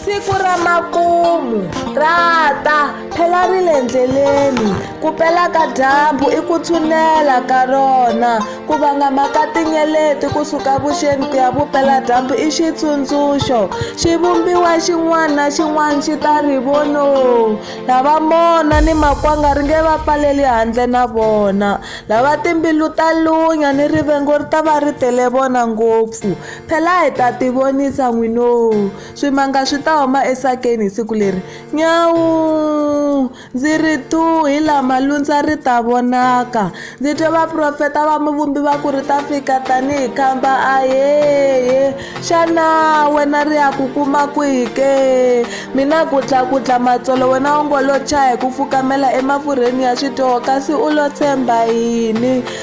siku ra makumu ra ta phela ri le ndleleni ku pela ka dyambu i ku tshunela ka rona ku vangama ka tinyeleti kusuka vuxeni ku ya vupela dyambu i xitsundzuxo xi vumbiwa xin'wana na xin'wana xi ta ri vono lava mona ni makwanga ri nge va pfaleli handle na vona lava timbilu ta lunya ni rivengo ri ta va ri tele vona ngopfu Phela hi ta tivonisa n'winoo, swimanga swi ta huma esakeni hi siku leri. Nyawuu! Ndzi ri thuu hi laha malundza ri ta vonaka. Ndzi twe vaprofeta va Muvumbi va ku ri ta fika tanihi khamba ayeye! Xana wena ri ya ku kuma kwihi ke? Mina ku dla ku dla matsolo wena u ngo lo chaya hi ku fukamela emafurheni ya swidyoho kasi u lo tshemba yini?